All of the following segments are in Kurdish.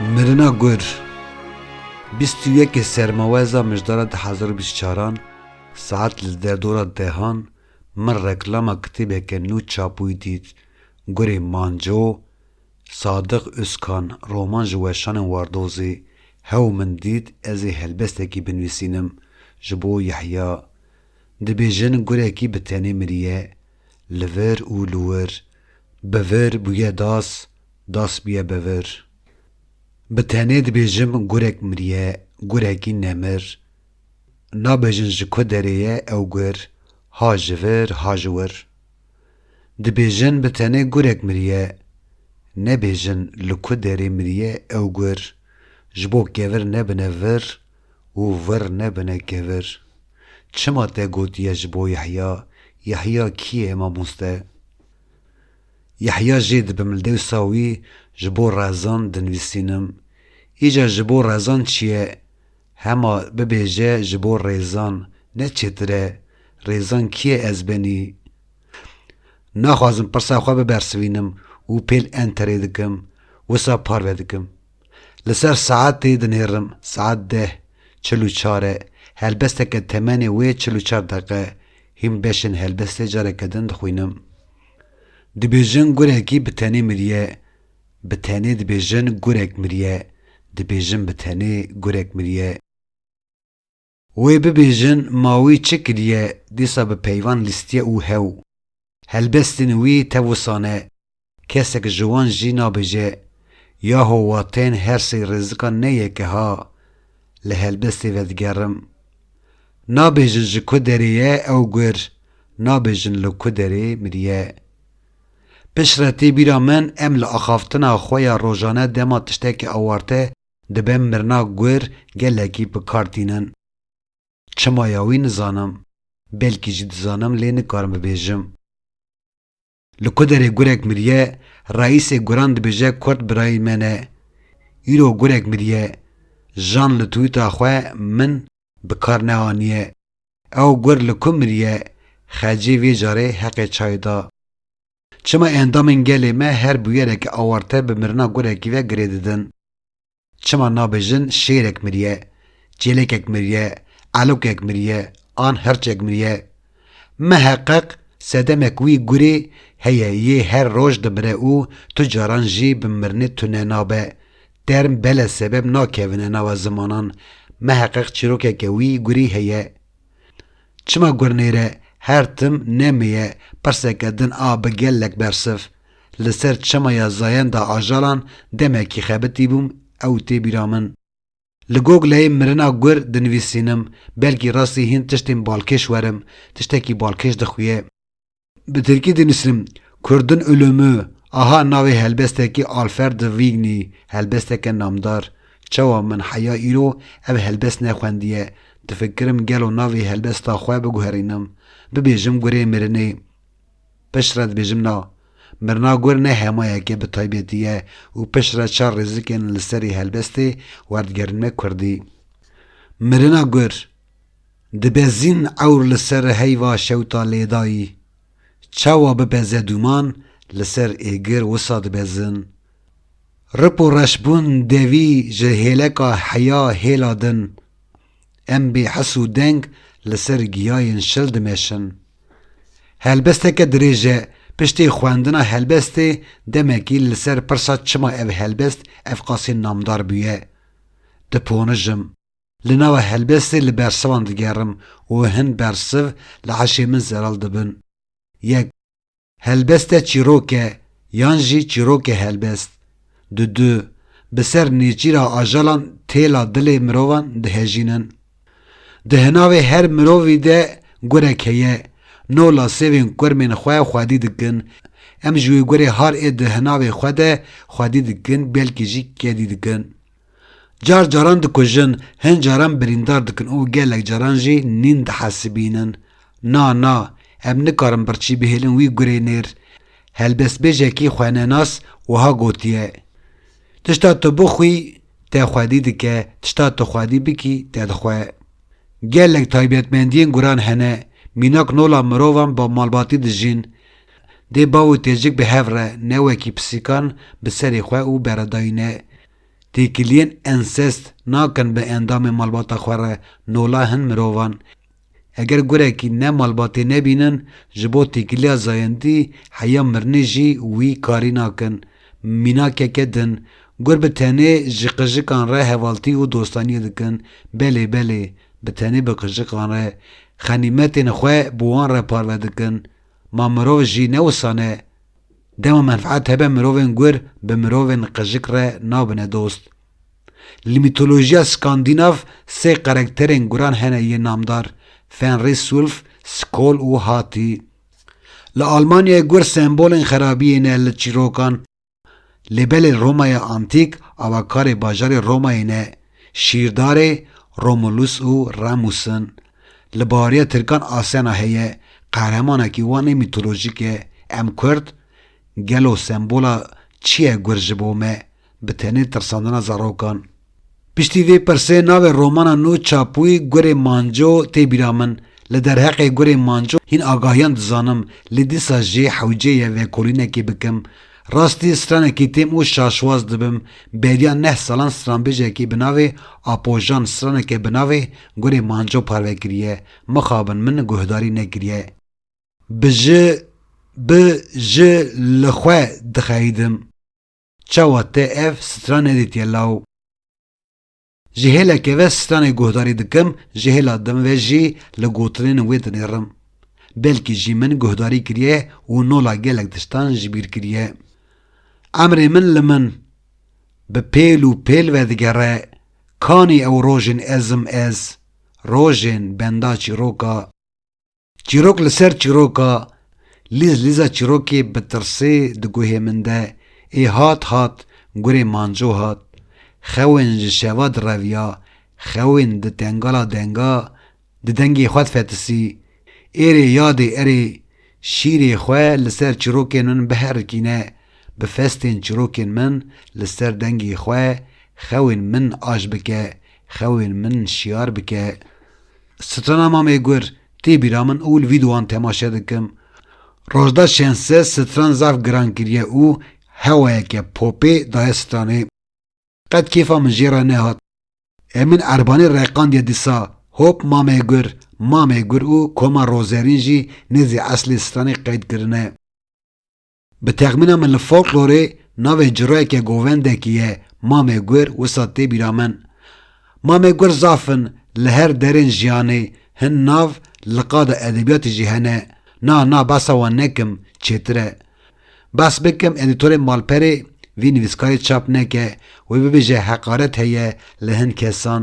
Mirina Gur, bîst û yekê Sermaweza mijdara di hezar û bîst û çaran saet li derdora dehan min reklama kitêbeke nû çapbûyî dît Gurê Manco, Sadiq Ûzkan roman ji weşanên Wardozê, hew min dît ez ê helbestekî binivîsînim ji bo Yehya Dibêjin gurekî bi tenê miriye, li vir û li wir, bi vir bûye das, das bûye bi vir. Bi tenê dibêjim gurek miriye, gurekî nemir. Nabêjin ji ku derê ye ew gur, ha ji vir, ha ji wir. Dibêjin bi tenê gurek miriye, nebêjin li ku derê miriye ew gur, ji bo kevir nebine vir û vir nebine kevir. Çima te gotiye ji bo Yehya, Yehya kî ye mamoste? Yehya jê dibim dewsa wî ji bo rezan dinivîsînim. Îcar ji bo rezan çi ye? Hema bibêje ji bo rêzan, ne çêtir e. Rêzan kî ye ez benî? Naxwazim pirsa xwe bibersivînim û pêl enterê dikim, wisa parve dikim. Li ser saetê dinêrim, saet deh çil û çar e. Helbesteke temenê wê çil û çar deqe e. Hîn beşên helbestê careke din dixwînim. Dibêjin gurekî bi tenê miriye. Bi tenê dibêjin gurek miriye. Dibêjin bi tenê gurek miriye. Wê bibêjin ma wî çi kiriye dîsa bi peyvan lîstiye û hew. Helbestên wî tewusan e. Kesek ji wan jî nabêje, Yaho wa tên her sey rêzikan ne yek e ha. Li helbestê vedigerim. Nabêjin ji ku derê ye ew gur, nabêjin li ku derê miriye. Piştre tê bîra min em li axaftina xwe ya rojane dema tiştekî awarte Dibe mirina guir gelekî bi kar tînin. Çima ya wî nizanim. Belkî jî dizanim lê nikarim bibêjim. Li ku derê gurek miriye, reîsê guran dibêje kurt birayî me ne. Îro gurek miriye. Jan li twîta xwe min bi kar neaniye. Ew gur li ku miriye, xecê vê carê heqê çayê da. Çima endamên gelê me her bûyereke awarte bi mirina gurekî ve girê didin? Çima nabêjin şêrek miriye, çêlekek miriye, elokek miriye an hirçek miriye? Miheqeq sedemek wî gurê heye yê her roj dimire û tu caran jî bi mirinê tune nabe. Term bele sebeb nakevine nava zimanan, miheqeq çîrokeke wî gurê heye. Çima gurnêre her tim nemêye pirseke din a bi gelek bersiv. Li ser çemaya Zayenda Ajalan demekî xebitîbûm ew tê bîra min. Li Gogleyê mirina gur dinivîsînim, belkî rastî hîn tiştên balkêş werim, tiştekî balkêş dixuye. Bi tirkî dinusînim Kurdun Ulûmû aha navê helbestekî Alferd de Vigny helbesteke namdar Çawa min heya îro ev helbest nexwendiye difikirim gelo navê helbesta xwe biguherînim bibêjim gurê mirinê piştre dibêjim na mirina gur ne hemayeke bi taybetî ye û piştre çar rêzikên li serê helbestê werdigerinme kurdî mirina gur Dibezin ewr li ser heyva şewta lêdayî. Çawa bibeze dûman li ser êgir wisa dibezin. Rip û reş bûn devî ji hêleka heya hêla din. Em bê his û deng li ser giyayên şil dimeşin. Helbesteke dirêj e, piştê xwendina helbestê demekî li ser pirsa çima ev helbest evqasê namdar bûye, diponijim. Li nava helbestê li bersivan digerim û hin bersiv li eşê min zelal dibin. Yek, Helbeste çîrok e yan jî çîrok e helbest? Du du, Bi ser nêçîra ajalan têla dilê mirovan dihejînin. Di hinavê her mirovî de gurek heye, no la sêvên kurmên xwe xwedî dikin. Em ji wê gurê har ê di hinavê xwe de xwedî dikin belkî jî kedî dikin. Car caran dikujin, hin caran birîndar dikin û gelek caran jî nîn dihesibînin. Na, na, em nikarin birçî bihêlin wî gurê nêr. Helbestbêjekî xwenenas wiha gotiye, Tişta tu bixwî, te xwedî dike, tişta tu xwedî bikî, te dixwe. Gelek taybetmendiyên guran hene, mînak nola mirovan bi malbatî dijîn. Dê bav û têcik bi hev re ne wekî pisîkan bi serê xwe û beredayîne. Têkiliyên ensest nakin bi endamên malbata xwe re nola hin mirovan. Eger gurekî ne malbatê nebînin, ji bo têkiliya zayendî heya mirinê jî wî karî nakin. Mînakeke din, gur bi tenê ji qijikan re hevaltî û dostaniyê dikin, belê belê, bi tenê bi qijikan re, xenîmetên xwe bi wan re parve dikin. Ma mirov jî ne wisa ne. Dema menfeet hebe mirovên gur bi mirovên qejik re nabine dost. Li mîtolojiya Skandînav sê karekterên guran hene yên namdar, Fenris, Ulf, Skol û Hati. Li Almanyayê gur sembolên xerabiyê ne li çîrokan, Lê belê Romaya Antîk avakarê bajarê Romayê ne, şîrdarê Romulus û Remus in. Li bariya Tirkan Asena heye, qehremanekî wan ê mîtolojîk e. Em Kurd, gelo sembola çi ye gur ji bo me, bi tenê tirsandina zarokan? Piştî vê pirsê navê romana nû Çapûy Gurê Manco tê bîra min. Li derheqê Gurê Manco hîn agahiyan dizanim, lê dîsa jê hewcê ye vekolînekê bikim. Rastî stranekî têm û şaşwaz dibim. Beriya neh salan stranbêjekî bi navê Apojan straneke bi navê Gurê Manco parve kiriye. Mixabin min guhdarî nekiriye. Bi ji bi ji li xwe dixeyidim. Çawa te ev sitra nedîtiye law? Ji hêleke ve stranê guhdarî dikim, ji hêla din ve jî li gotinên wê dinêrim. Belkî jî min guhdarî kiriye û nola gelek tiştan ji bîr kiriye. Emrê min li min bi pêl û pêl ve digere, kanî ew rojên ezim ez, rojên benda çîroka. Çîrok li ser çîroka, lîz lîza çîrokê bi tirsê di guhê min de ê hat hat gurê manco hat, xewên ji şeva direviya, xewên di tengala denga di dengê xwe difetisî, êrê yadê erê, şîrê xwe li ser çîrokên min biherikîne, bi festên çîrokên min li ser dengê xwe xewên min aj bike, xewên min şiyar bike. Strana Mamê Gur tê bîra min û li vî duwan temaşe dikim. Rojda şense stran zaf giran kiriye û hewayeke popê daye stranê. Qet kêfa min jê re nehat. Ê min Erbanî reqandiye dîsa, hop Mamê Gur, Mamê Gur û Koma Rozerîn jî nêzî eslê stranê qeyd kirine. Bi texmîna min li folklorê navê cirayeke govendekî ye Mamê Gur wisa tê bîra min. Mamê Gur zaf in li her derên jiyanê, hin nav li qada edebiyatê jî hene. Na na behsa wan nekim çêtir e. Behs bikim edîtorê malperê vî nivîskarê çap neke wê bibêje heqaret heye li hin kesan.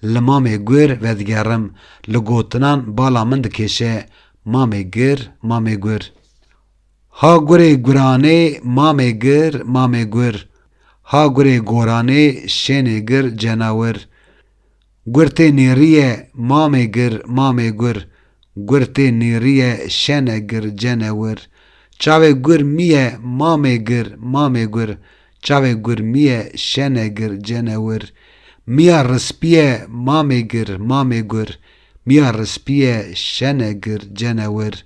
Li Mamê Gur vedigerim, li gotinan bala min dikêşe Mamê Gur, Mamê Gur. Ha gurê guranê mamê gir mamê gur Ha gurê goranê şênê gir cenawir Gur tê nêrîye mamê gir mamê gur Gur tê nêrîye şene gir cene wir Çavê gur mîye mamê gir mamê gur Çavê gur mîye şene gir cene wir Mîya rispîye mamê gir mamê gur Mîya rispîye şene gir cene wir.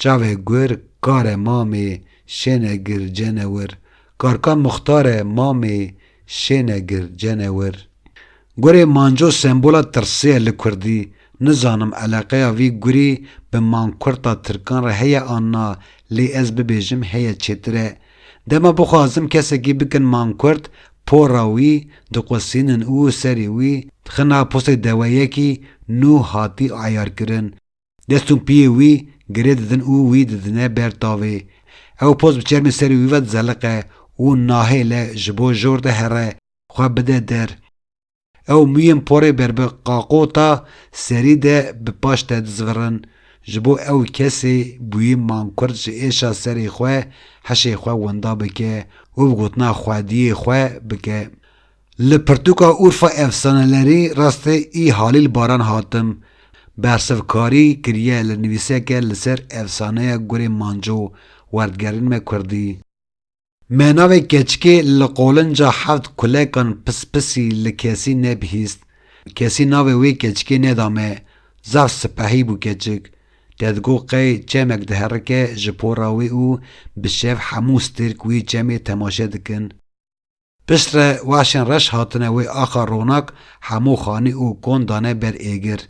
Çavê gur kare mamê şêne gir cenewir Karka Muxtare mamê şêne gir cenewir Gurê manco sembola tirsê ye li kurdî Nizanim eleqeya vî gurî bi mankurta tirkan re heye an na lê ez bibêjim heye çêtir e Dema bixwazim kesekî bikin mankurt pora wî diqusînin û serê wî dixin a posê deweyekî nû hatî eyarkirin Dest û piyê wî girê didin û wî didine ber tavê. Ew poz bi çermê serê wî ve dizeliqe û nahêle ji bo jor de here xwe bide der. Ew mûyên porê ber bi qaqota serî de bi paş te dizivirin. Ji bo ew kesê bûyî mankurd ji êşa serê xwe heşê xwe winda bike û bi gotina xwediyê xwe bike. Li pirtûka Urfa efsanelerî rastê î Halîl Baran hatim, bersivkarî kiriye li nivîseke li ser efsaneya Gurê Manco, Werdgerîn me kurdî. Me navê keçikê li qolinca heft kulekan pispisî li kesî nebihîst. Kesî navê wê keçikê neda me. Zaf sipehî bû keçik. Te digot qey çemek diherike ji pora wê û bi şev hemû stêrk wî çemê temaşe dikin. Pişt re weşên reş hatine wê axa ronak hemû xanî û kon dane ber êgir.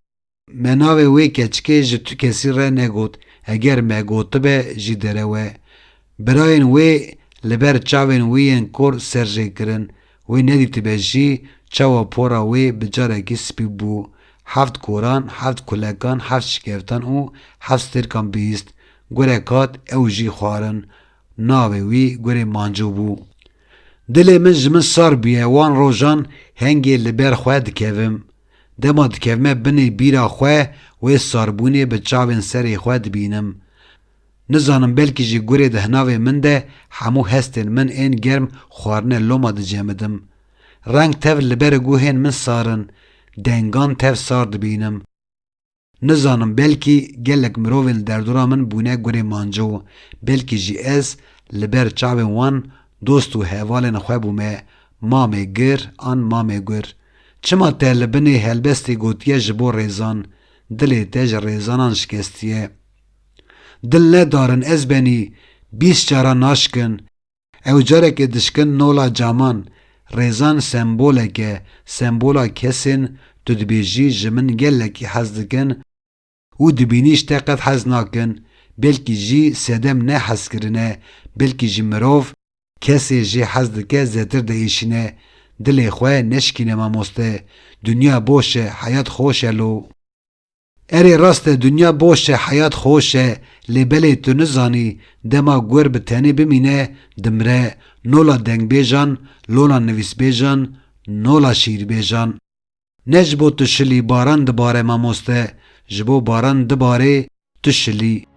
Me navê wê keçikê ji tu kesî re negot, heger me gotibe jî derewe. Birayên wê li ber çavên wî yên kor ser jê kirin, wê nedîtibe jî çawa pora wê bi carekî spî bû. Heft koran, heft kulekan, heft şikeftan û heft stêrkan bihîst. Gurek hat ew jî xwarin. Navê wî gurê Manco bû. Dilê min ji min sar bûye wan rojan hengê li ber xwe dikevim. Dema dikevime binê bîra xwe wê sarbûnê bi çavên serê xwe dibînim. Nizanim belkî ji gurê di hinavê min de hemû hestên min ên germ xwarine loma dicemidim. Reng tev li ber guhên min sar in, dengan tev sar dibînim. Nizanim belkî gelek mirovên li derdora min bûne gurê manco, belkî jî ez li ber çavên wan dost û hevalên xwe bûme Mamê Gir an Mamê Gur. Çima te li binê helbestê gotiye ji bo rêzan, dilê te ji rêzanan şikestiye. Dil ne darin ez benî bîst caran naşikin, Ew carekê dişkin nola caman, rêzan sembolek e, sembola kesên tu dibêjî ji min gelekî hez dikin û di bînîş te qet hez nakin, belkî jî sedem ne hezkirin e, belkî jî mirov kesê jê hez dike zêtir diêşîne. Dilê xwe neşikîne mamoste. Dinya boş e, heyat xoş e lo. Erê rast e dinya boş e heyat xoş e lê belê tu nizanî dema guer bi tenê bimîne dimre nola dengbêjan lola nivîsbêjan nola şîîrbêjan ne ji bo tu şilî baran dibare mamoste ji bo baran dibarê tu şilî.